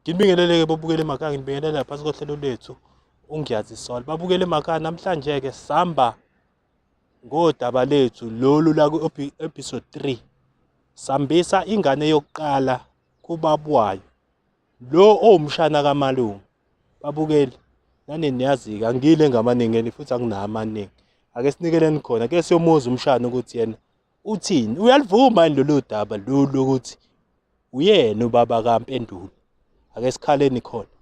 Ngibingeleleke bobukele emakhaya ngibingelele phansi kohlelo lwethu uNgiyazi Sol. Babukele emakhaya namhlanje ke sihamba ngodaba lethu lolu la ku episode 3. Sambisa ingane yokuqala kubabwayo. lo owumshana kamalume babukeli nani niyazi-ke angile ngamaningeni futhi anginayo amaningi ake sinikeleni khona ke siyomuza umshana ukuthi yena uthini uyalivuma yini lolu daba lolu ukuthi uyena ubaba kampendulo ake sikhaleni khona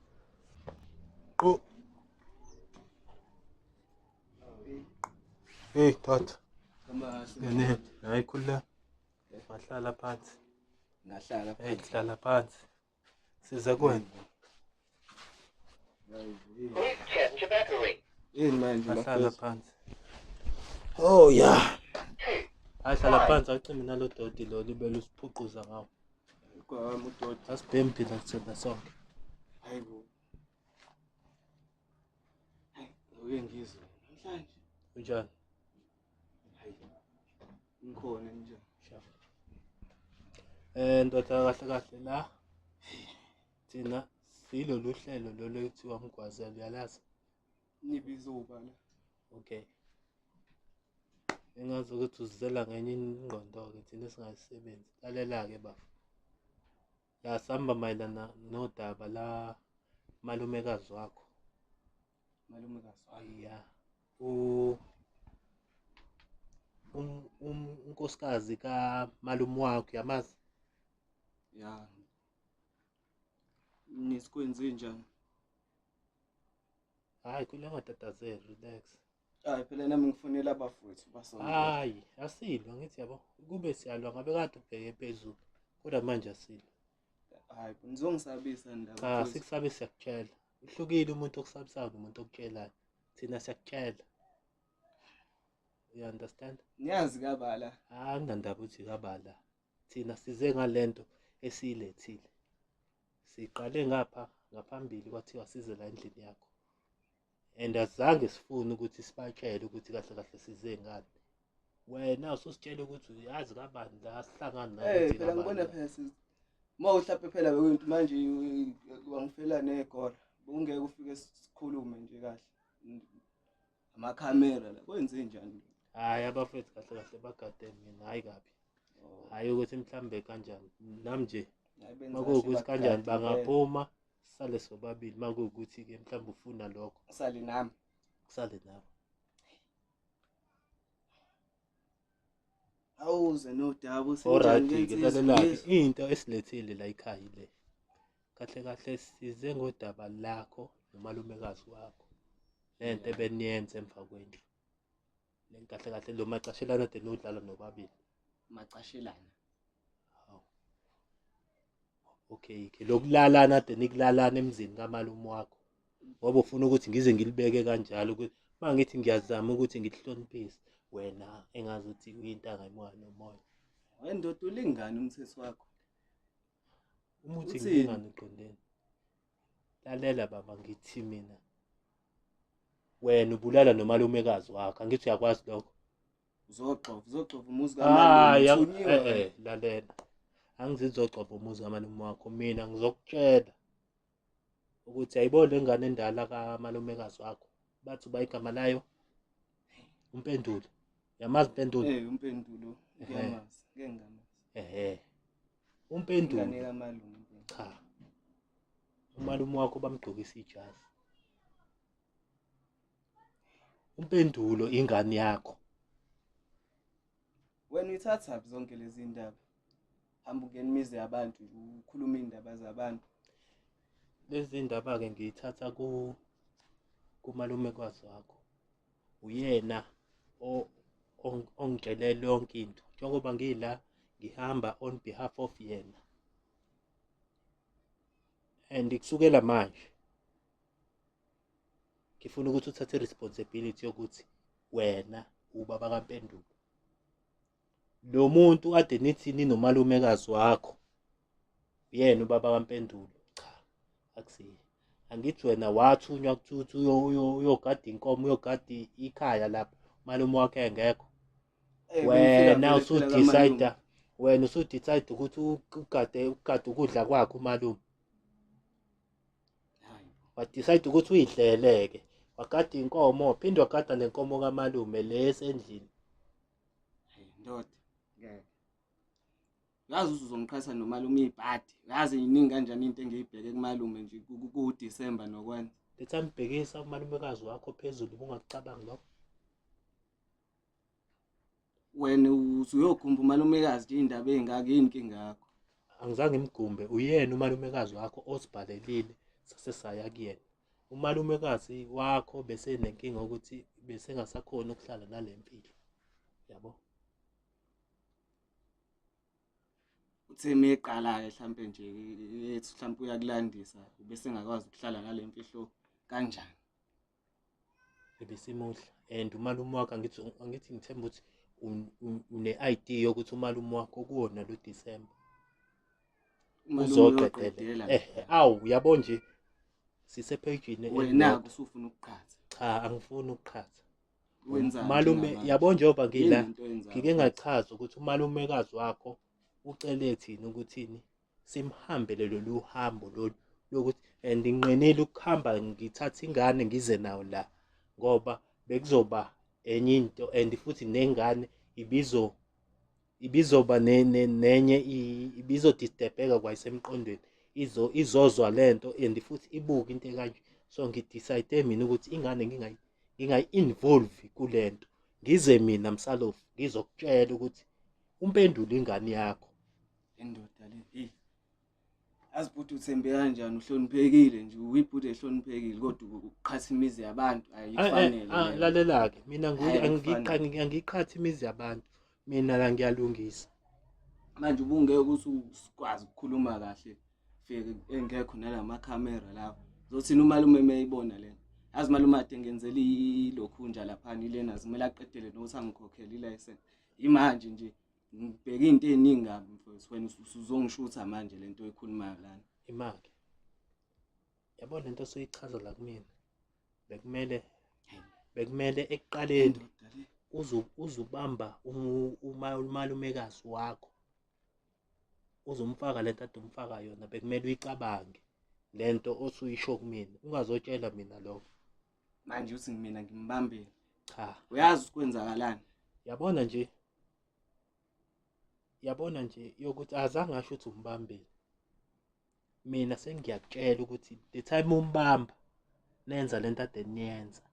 Hey, Tat. Beni, Aykülle. Wahlala phansi. Ngahlala phansi. Hey, hlala phansi. Siza kuwena. Yini manje Wahlala phansi. Oh yeah. Hayi hlala phansi acime nalo doti lo libele usiphuquza ngawo. Kwami udoti. Asibhemi phila kuthina sonke. Hayibo. Uye ngizwe namhlanje. Unjani? Hayi. Ngikhona nje. Sha. Eh ndoda kahle kahle la. Thina silolu hlelo lolo ekuthiwa mgwazela uyalazi. Nibizo ubala. Okay. Engazi ukuthi uzizela ngenye ingqondo-ke thina singayisebenzi. Lalela-ke bafo. Ya samba mayelana nodaba la malumekazi wakho. Malumekazi wakho. Ya. U um, um unkosikazi ka malume wakho yamazi? Ya. Nisikwenze njani? Hayi kulenga tatazela relax. Hayi phela nami ngifonela abafowethu basonto. Hayi, asilwa ngithi yabo. Kube siyalwa ngabe kade ubheke phezulu. Kodwa manje asilwa. Hayi, nizongisabisa ndaba. Cha, futhi. sikusabe siyakutshela. Uhlukile umuntu okusabisayo nomuntu okutshelayo. Thina siyakutshela. You understand? Niyazi kabala. Hayi, nginandaba ukuthi kabala. Thina size ngalento esiyilethile. Siqale ngapha ngaphambili kwathiwa size la endlini yakho. and azange sifune ukuthi sibatshele ukuthi kahle kahle size ngani wena ususitshela ukuthi uyazi kabani la sihlangana naye eh, phela ngibona phela sisi uma uhlape phela bekwinto manje wangifela negora bungeke ufike sikhulume nje kahle amakhamera la kwenze njani hayi abafethu kahle kahle bagade mina hayi kabi oh. hayi ukuthi mhlambe kanjani nam nje makuwukuthi kanjani bangaphuma sale sobabili uma kuwukuthi-ke mhlawumbe ufuna lokho asale nami kusale nawe awuze nodaba oradike lalelake into esilethile la ikhaya ile kahle kahle size ngodaba lakho nomalumekazi wakho lento ebeniyenza emva kwendlu Len kahle kahle lo macashelana de nodlala nobabili. Macashelana. Haw. Okay, ke lokulalana de nikulalana emzini kamalume wakho. Ngoba ufuna ukuthi ngize ngilibeke kanjalo ukuthi mangithi ngiyazama ukuthi ngikuhloniphise wena engazi ukuthi uyintanga imoya nomoya. Wendoda ulingani umthetho wakho? Umuthi Uthini? ngingani uqondeni. lalela baba ngithi mina wena ubulala nomalumekazi wakho angithi uyakwazi lokho uzoxova uzoxova umuzi hayi eh, eh, lalela angizizoxova umuzi kamalume wakho mina ngizokutshela ukuthi ayibona le ngane endala kamalumekazi wakho bathi uba igama layo umpendulo yamazi impendulo eh umpendulo ngiyamazi ngeke ngamazi ehe Umpendulo. Ingane kamalume. Cha. Umalume wakho bamgqokisa ijazi. Umpendulo ingane yakho. Wena uyithatha zonke lezi ndaba. Hamba ungena imizi yabantu ukhuluma indaba zabantu. Lezi ndaba ke ngiyithatha ku kumalume kwazi wakho. uyena ongitshelele yonke into njengoba ngila ngihamba on behalf of yena and kusukela manje ngifuna ukuthi uthathe responsibility yokuthi wena ubaba kaMpendulo lo muntu ade nithi ninomalumekazi wakho uyena ubaba kampendulo cha akusiye angithi wena wathunywa kuthuthi uyogada inkomo uyogada ikhaya lapho malume wakhe engekho eh, wena usudecide wena usudecide ukuthi ugade ugade ukudla kwakhe umalume wadecide ukuthi uyidlele-ke wagada inkomo phinde wagada nenkomo kamalume le esendlini Hayi ndoda. Ngeke. Yazi uzozongiqhatha nomalume ibhadi. Yazi yiningi kanjani into engiyibheke kumalume nje kuDecember nokwenza. Letha ambhekisa umalumekazi wakho phezulu kungakucabangi lokho. Wena usuyokhumba umalumekazi nje indaba ezingaka yini inkinga yakho? Angizange ngimgumbe uyena umalumekazi wakho osibhalelile sase saya kuyena. umalumekazi wakho bese nenkinga ukuthi bese ngasakhona ukuhlala nalempilo yabo uthe meqala ke mhlambe nje ethi mhlambe uyakulandisa bese ngakwazi ukuhlala nalempilo kanjani ebesimuhle and umalume wakhe angithi angithi ngithemba ukuthi une-ID yokuthi umalume wakho kuwona lo December uzoqedela eh, eh awu uyabo nje sise page ne wena kusufuna ukuqhatha cha angifuni ukuqhatha wenzani malume yabo njengoba ngila ngike ngachaza ukuthi umalumekazi wakho ucele thina ukuthini simhambele lolu hambo lolu lokuthi and nginqenile ukuhamba ngithatha ingane ngize nawo la ngoba bekuzoba enye into and futhi nengane ibizo ibizoba nenye ibizodistebheka kwayisemqondweni izo izozwa lento and futhi ibuke into ekanje so ngidecide mina ukuthi ingane ngingayi ngingayi involve kulento ngize mina msalofu ngizokutshela ukuthi umpendula ingane yakho indoda le Azi bhuti uthembe kanjani uhloniphekile nje uyibhuti ehloniphekile kodwa uqhatha imizi yabantu ayifanele. Ah lalela ke mina ngiqhathi angiqhathi imizi yabantu mina la ngiyalungisa. Manje ubungeke ukuthi usikwazi ukukhuluma kahle fike engekho nalama camera lawo. Zothina umalume meyibona lena. Azi malume ade ngenzela ilokhunja lapha nilena zimela aqedele nokuthi angikhokhele i license. Imanje nje ngibheke into eziningi kabi mfowethu wena usuzongishutha manje lento oyikhulumayo lana imake yabo lento osuyichaza la kumina bekumele bekumele ekuqaleni uzubamba umalumekazi wakho uzomfaka lento ade umfaka yona bekumele uyicabange lento osuyisho kumina ungazotshela mina lokho manje uthi mina ngimbambile cha uyazi ukwenzakalani yabona nje yabona nje yokuthi azange asho ukuthi umbambile mina sengiyakutshela ukuthi the time umbamba nenza lento ade niyenza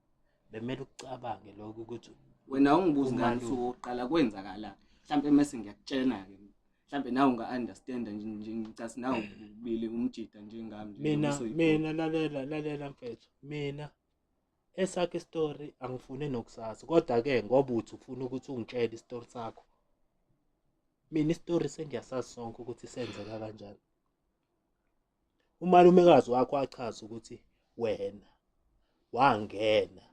bemele ukucabange lokho ukuthi wena ungibuzi ngani usuku oqala kwenzakalani mhlambe mase ngiyakutshena ke mhlambe nawe unga understand nje nje ngicasi nawe ubili umjida njengami nje mina nokusoyi- mina lalela lalela mfethu mina esakhe story angifune nokusazi kodwa ke ngoba uthi ufuna ukuthi ungitshele istory sakho mina istory sengiyasazi sonke ukuthi senzeka kanjani umalumekazi wakho achaza ukuthi wena wangena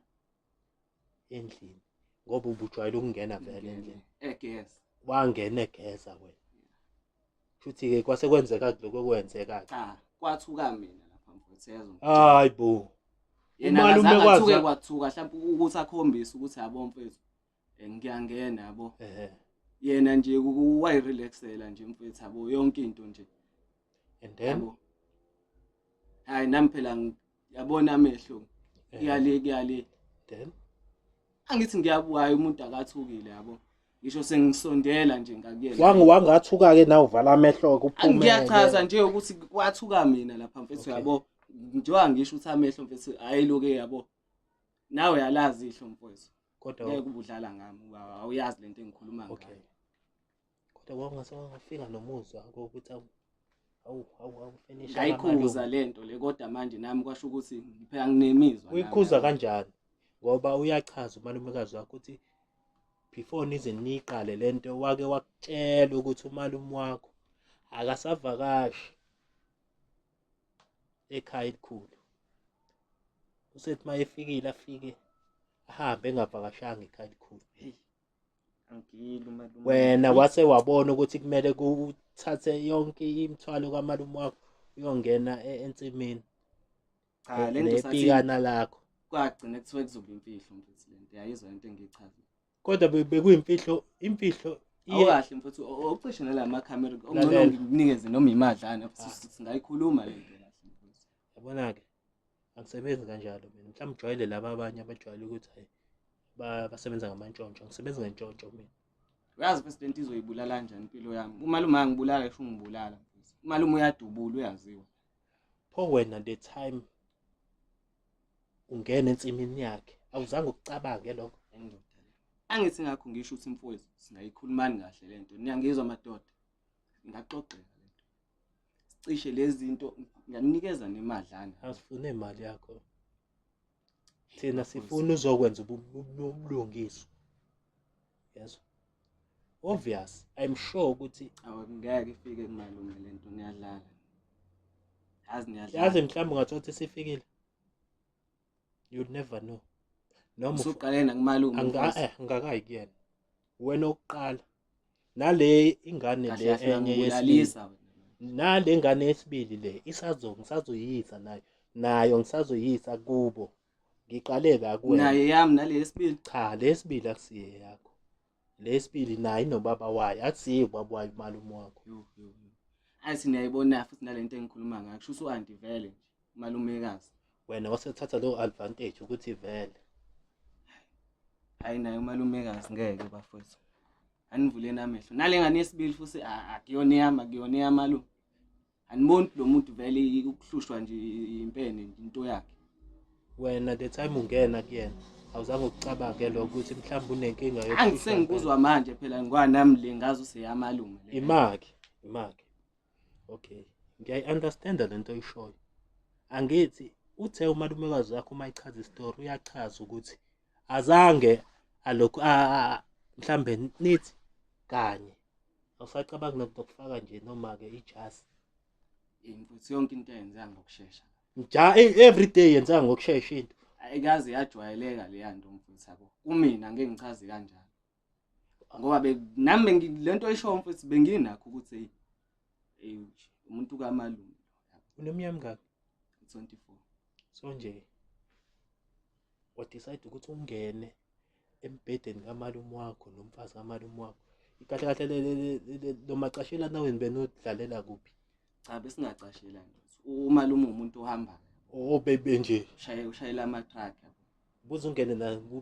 endlini ngoba ubujwayele ukungena vele endlini egeza wangena egeza wena futhi ke kwase kwenzeka lokho kwenzeka cha kwathuka mina lapha mfowethu yazi hayi bo yena akathuke kwathuka mhlawumbe ukuthi akhombise ukuthi yabo mfowethu Eh, ngiyangena yabo ehe yena nje kuwayi relaxela nje mfethu yabo yonke into nje and then yabo hayi nami phela ngi- yabona amehlo ehe, kuyale kuyale then angithi ngiyabuhayi umuntu akathukile yabo ngisho sengisondela nje ngakuyena wangi wangathuka ke nawe uvala amehlo kuphume ngiyachaza nje ukuthi kwathuka mina lapha mfethu Okay. yabo njengoba ngisho ukuthi amehlo mfethu hayi loke yabo nawe yalazi ihlo mfowethu kodwa ngeke ubudlala ngami uba awuyazi lento engikhuluma ngayo okay kodwa kwawungase wangafika nomuzwa kokuthi awu awu awu awu finish ngayikhuza lento le kodwa manje nami kwasho ukuthi ngiphela nginemizwa uyikhuza kanjani ngoba uyachaza umalumekazi wakho ukuthi before nize niqale lento wake wakutshela ukuthi umalume wakho akasavakashi ekhaya elikhulu usethi uma efikile afike ahambe engavakashanga ekhaya elikhulu wena wase wabona ukuthi kumele kuthathe yonke imithwalo kamalume wakho uyongena e-, ensimini cha lento sathi lakho kwagcina kuthiwa kuzoba imfihlo mfethu lento yayizwa into engiyichaza kodwa be- bekuyimfihlo imfihlo iye- awukahle mfuthu ucishe nalama camera Lalela. ongcono ngikunikeze noma imadlana Ah. futhi singayikhuluma le nto kahle mfuthu. yabona-ke angisebenzi kanjalo mina mhlawumbe ujwayele laba abanye abajwayele ukuthi hayi ba- basebenza ngamantshontsho angisebenzi ngentshontsho mina uyazi first lento izoyibulala njani impilo yami umalume angibulala esho ungibulala mfuthu. umalume uyadubula uyaziwa pho wena the time ungena ensimini yakhe awuzange ukucabange lokho endoda angithi ngakho ngisho ukuthi mfowethu singayikhulumani kahle le nto niyangizwa madoda ingaxoxeka le nto sicishe lezi zinto ngiyanikeza nemadlana asifune imali yakho thina sifuna uzokwenza ubulungiswa yezwa obvious i'm sure ukuthi awungeke ifike kumalungelo lento ngiyadlala yazi ngiyadlala yazi mhlawumbe ungathola ukuthi sifikile you never know noma usuqale nakumalume eh, ngakayi kuyena wena oqala nale ingane le enye yesilisa nale ngane yesibili le isazo ngisazoyisa nayo nayo ngisazoyisa kubo ngiqaleke akuwe naye yami nale yesibili cha le yesibili akusiye yakho le yesibili naye nobaba wayo akusiye ubaba wayo umalume wakho athi niyayibona futhi nale nto engikhuluma ngayo kusho ukuthi u-anti vele nje umalumekazi wena wasethatha leyo advantage ukuthi vele hayi naye umalumekazi ngeke bafowethu anivuleni amehlo nale ngane yesibili futhi akuyona eyami akuyona eyamalume aniboni lo muntu vele ukuhlushwa nje impene into yakhe wena the time ungena kuyena awuzange ukucabanga ke lokho ukuthi mhlawumbe unenkinga yokuhlushwa angisengikuzwa manje phela ngwanami le ngazi useyamalume le imaki imaki okay ngiyayi-understanda le nto oyishoyo angithi uthe umalumekazi wakho uma ichaza isitori uyachaza ukuthi azange alokhu mhlawumbe nithi kanye awusacabangi nokho ukufaka nje noma ke ijasi imfuthi yonke into yenza ngokusheshsha nja e- every day yenza ngokusheshsha into ayikaze yajwayeleka leya nto mfuthi yabo kumina ngeke ngichaze kanjalo ngoba be nami bengi- le nto oyishoyo mfuthi benginakho ukuthi eyi eyi nje, umuntu kamalume unomnyaka mngaki 24 so nje wadecide ukuthi ungene embhedeni kamalume wakho nomfazi kamalume wakho kahle kahle lo macashela naweni benodlalela kuphi cha besingacashela nje umalume umuntu ohamba obebe oh, nje ushayela ama-truck kuzungene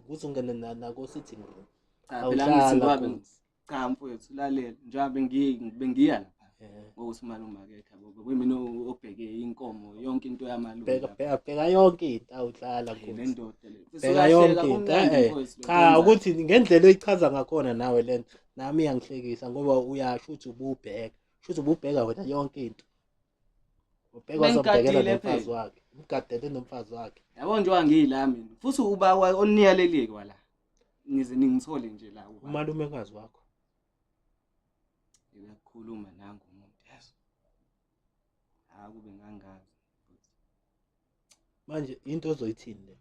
kuzungene nako sitting room cha phela ngithi cha mfowethu lalela njengoba bengi- bengiya lapha Eh, ngokuthi umalume akekho yabo bekuyimina o- obheke inkomo yonke into yamalume bheka lapha. bheka bheka yonke into awuhlala Hey, le kuthi ndoda le Mfethu, bheka uyahleka, yonke into kumnandi eh mfowethu, cha lokwenza. ukuthi ngendlela oyichaza ngakhona nawe lento nami iyangihlekisa ngoba uyasho ukuthi ububheka shuthi ububheka wena yonke into ubheka uzobhekela nomfazi wakhe umgadele nomfazi wakhe yabo nje wangila mina futhi uba oniyaleliye kwala ngize ningithole nje la umalume kazi wakho uyakhuluma nangu umuntu yazi akube ngangazi manje into ozoyithini le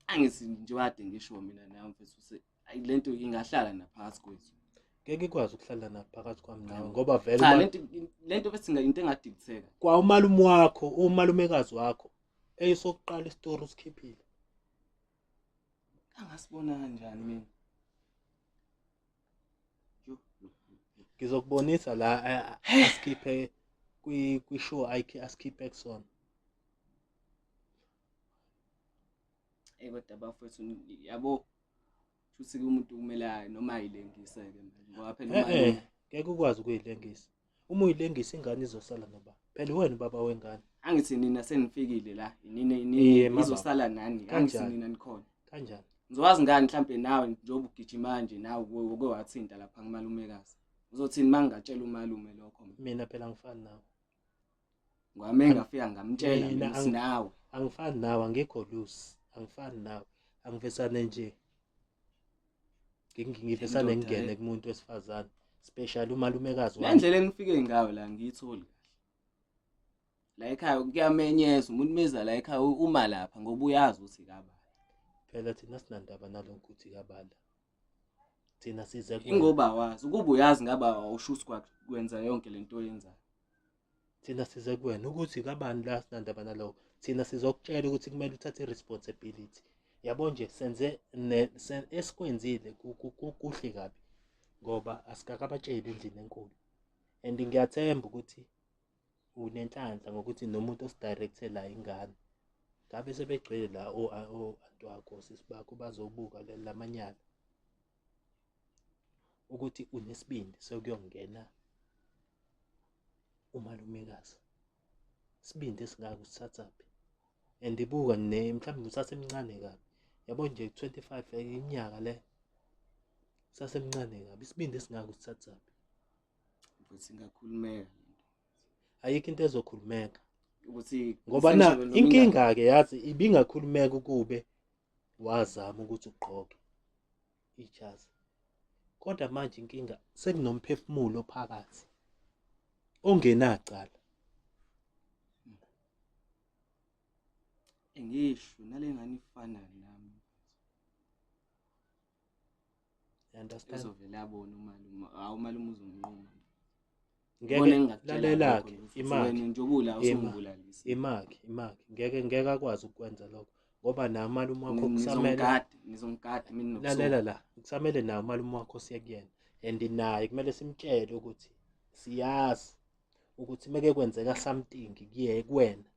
angithi nje wade ngisho mina nawe mfethu ukuthi ayi lento ingahlala naphakathi kwethu ngeke ikwazi ukuhlala naphakathi kwami nawe ngoba vele cha uma- lento lento bese inga- into engadilitheka kwa umalume wakho umalumekazi wakho eyisokuqala isitori usikhiphile angasibona kanjani mina ngizokubonisa la asikhiphe kwi-show asikhiphe kusona eyi kodwa bafowethu yabo shuthi-ke umuntu kumele noma ayilengise-ke ngoba phela ngeke ukwazi ukuyilengisa Uma uyilengisa ingane izosala noba. Phela uwena ubaba wengane. Angithi nina senifikile la. Nina Iye, nina mama. izosala nani. Angithi Kanjani? nina nikhona. Kanjani? Ngizokwazi ngani mhlampe nawe njengoba ugijima nje nawe uke- uke wathinta lapha kumalumekazi. Uzothini mangingatshela umalume lokho mina? Mina phela ngifani nawe. ngwami engafika ngamtshela Mina mina ang- sinawe angifani nawe angikho loose angifani nawe angivesane nje Ngi- ngivesane Indoda, ngingene eh. kumuntu wesifazane special umalumekazi le wami ndlela engifike ngayo la ngiyitholi kahle la ekhaya kuyamenyeza umuntu meza la ekhaya u- uma lapha ngoba uyazi ukuthi kabani phela thina sinandaba nalokho ukuthi kabala thina size kuwe ingoba awazi ukuba uyazi ngabe awusho usquad kwenza yonke lento oyenzayo thina size kuwena ukuthi kabani la sinandaba nalowo thina sizokutshela ukuthi kumele uthathe i-responsibility yabo nje senze esikwenzile kuhle kabi ngoba asikakabatsheli endlini enkulu and ngiyathemba ukuthi unenhlanhla ngokuthi nomuntu osidirectela ingane ngabe sebegcwele la o-anti wakho sisi bakho bazobuka la manyala ukuthi unesibindi sokuyongena umalumekazi isibindi esingaka usithathaphi and ibuka ne mhlawumbe usasemncane kabi yabo nje 25 iminyaka le usasemncane kabi isibindi esingaka usithathaphi ukuthi ingakhulumeka ayikho into ezokhulumeka ukuthi ngoba na inkinga ke yazi ibingakhulumeka ukube wazama ukuthi ugqoke ijazi kodwa manje inkinga sekunomphefumulo phakathi ongenacala ngisho nalengane ifana nami You understand? Uzovele abone umalume. Hawu umalume uzomnquma. Ngeke lalela-ke imaki. Njengoba ula usungibulalalisa. Imaki, imaki. Ngeke ngeke akwazi ukwenza lokho. ngoba naye umalume wakho kusamele lalela la kusamele naye umalume wakho siye kuyena and naye kumele simtshele ukuthi siyazi ukuthi uma kekwenzeka something kuye kuwena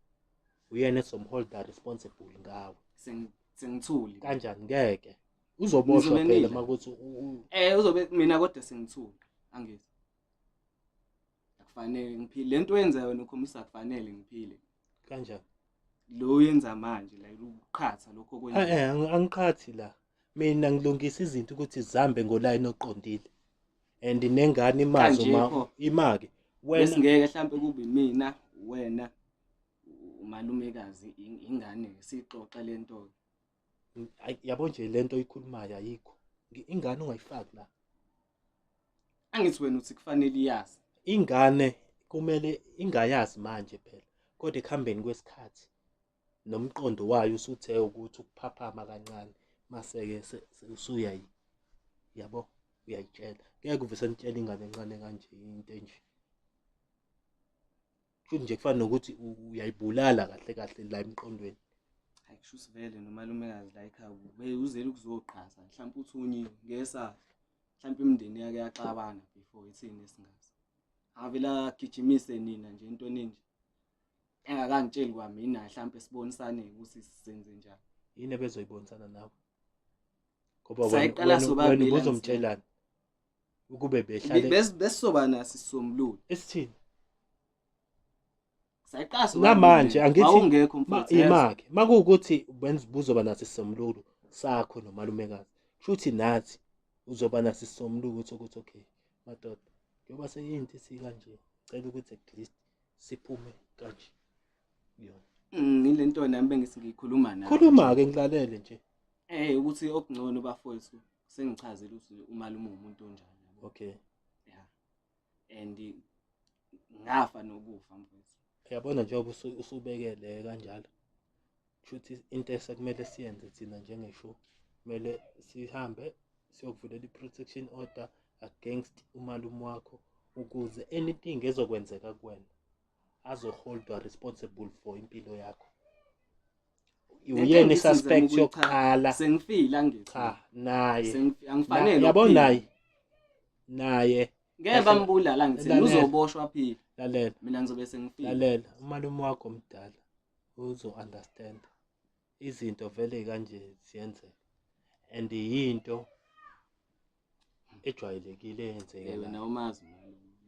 uyena ezomholda responsible ngawe Sengi- sengithuli kanjani ngeke uzoboshwa Ngizobe phela ngidla. uma kuthi u- u- eh uzobe mina kodwa sengithuli angizwa akufanele ngiphile lento oyenza yona ukhombisa akufanele ngiphile kanjani lo uyenza manje la ukuqhatha lokho Ah, okwenza eh, angi- angiqhathi la mina ngilungisa izinto ukuthi zihambe ngolayini oqondile and nengane imazi Kanje uma pho. imake wena besingeke mhlambe kube mina wena umalumekazi ingane sixoxa lento yabo nje lento oyikhulumayo ayikho ingane ungayifaki la angithi wena uthi kufanele iyazi ingane kumele ingayazi manje phela kodwa ekuhambeni kwesikhathi nomqondo wayo usuthe ukuthi ukuphaphama kancane maseke usuyayi yabo uyayitshela ngeke uvese nitshele ingane encane kanje into enje kusho nje kufana nokuthi uyayibulala kahle kahle la emqondweni hayi kusho sivele nomalumekazi la ekhaya uzele ukuzoqhaza mhlawumbe uthunyiwe ngesa mhlawumbe imindeni yake yaxabana before ithini esingazi avela gijimise nina nje into eninje engakangitsheli kwamina mhlawumbe sibonisane ukuthi sizenze njani yini ebezoyibonisana nawe ngoba wena ubuzomtshelana ukube behlale Bes- besizoba naso isisombululo esithini sayiqasa namanje angithi awungekho ma- mfowethu yazi. imake makuwukuthi benz- buzoba naso isisombululo sakho nomalumekazi kushuthi nathi uzoba naso isisombululo sokuthi okay madoda njengoba seyinto esikanje cela ukuthi at least siphume kanje kuyona Mm, yile nto nami bengisi ngiyikhuluma nawe khuluma-ke ngilalele nje eh ukuthi okungcono bafowethu sengichazile ukuthi umalume umuntu onjani yabo okay yeah and ngafa nokufa mfowethu uyabona njengoba usubekele kanjalo shuthi into esekumele siyenze thina njengeshow kumele sihambe siyokuvulela i-protection order against umalume wakho ukuze anything ezokwenzeka kuwena azoholdwa responsible for impilo yakho uyena isuspect yokuqala sengifile angithi cha naye angifanele yabo naye naye ngeke bambulala ngithi uzoboshwa phila lalela mina ngizobe sengifile lalela umalume wakho mdala uzo understand izinto vele kanje ziyenzeka and yinto ejwayelekile eyenzeke wena umazi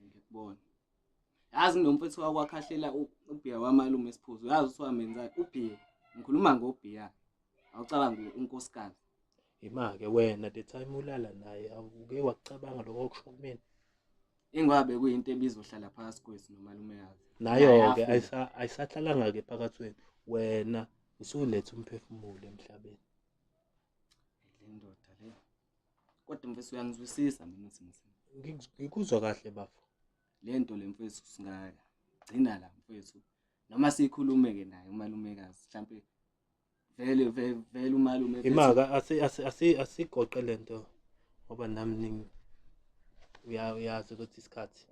ngikubona yazi nginomfethu wakwakhahlelwa ubhiya wamalume esiphuzo yazi ukuthi wamenza ubhiya ngikhuluma ngobhiya awucabangi unkosikazi yima-ke wena the time ulala naye awuke wakucabanga lokho okusho kumina ingabe kuyinto ebizohlala phakathi kwethu nomalume yazi nayo-ke ayisahlalanga-ke phakathi wenu wena usuletha umphefumulo emhlabeni Kodwa mfethu uyangizwisisa mina simo sami. Ngi- Ngikuzwa kahle bafo. Le nto le mfethu singaka gcina la mfethu. Noma sikhulume-ke naye umalumekazi mhlampe vele ve- vele umalume ethi- Imaka asi asi asi asigoqe lento ngoba nami ning uya uyazi ukuthi isikhathi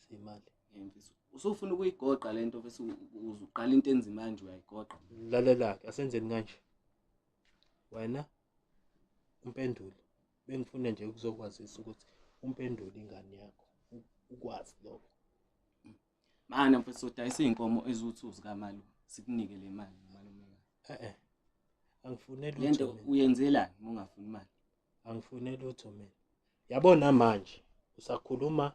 siyimali. Eh, mfethu, usufuna ukuyigoqa le nto mfethu u- uzuqala into enzima kanje uyayigoqa. Lalela ke asenzeni kanje. Wena umpenduli bengifuna nje ukuzokwazisa ukuthi umpenduli ingane yakho ukwazi lokho mana mfethu sodayisa izinkomo eziwu2 zikamalo sikunike le mali malume eh eh angifuneli lento uyenzelani uma ungafuni imali angifuneli utho mina yabona manje usakhuluma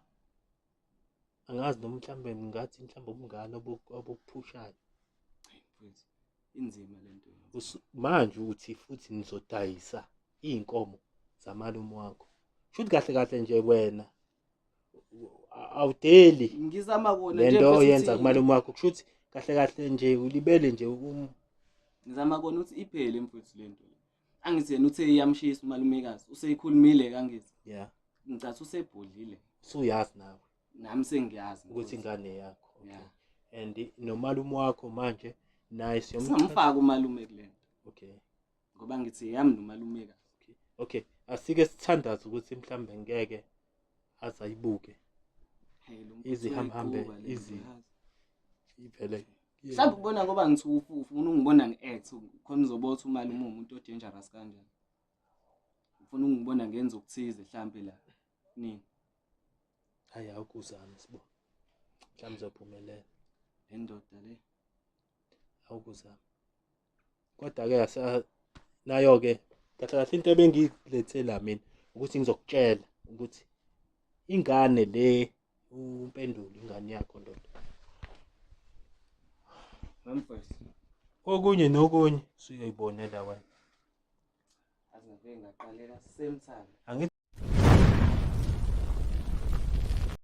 angazi noma mhlawumbe ngathi mhlawumbe ubungane obukuphushayo mfowethu inzima lento manje ukuthi futhi nizodayisa izinkomo zamalume wakho shuthi kahle kahle nje wena awudeli ngizama kona nje lento oyenza kumalume wakho kushuthi kahle kahle nje ulibele nje um ngizama kona ukuthi iphele mfowethu lento angithi yena uthe iyamshisa umalumekazi useyikhulumile kangithi yeah ngicathi usebhodlile suyazi nawe nami sengiyazi ukuthi ingane yakho okay yeah. and nomalume wakho manje naye siyomfaka umalume kulento okay ngoba ngithi yami nomalumekazi okay okay asike sithandaza ukuthi mhlambe ngeke aze ayibuke Hey, lo mfuthu Izihamhambe, uyayiquba le nto, izi- yazi. ivele mhlawumbe ukubona ngoba ngithufu ufuna ungibona ngi-act khona uzobotha umali uma umuntu o-dangerous kanjani ufuna ungibona ngenza okuthize mhlawumbe la nini hayi awukuzame sibo mhlawumbe uzophumelela le ndoda le awukuzama kodwa-ke nayo-ke kahle kahle into ebengilethela mina ukuthi ngizokutshela ukuthi ingane le umpendulo ingane yakho ndoda okunye nokunye suyoyibonela wena angingaqalela same time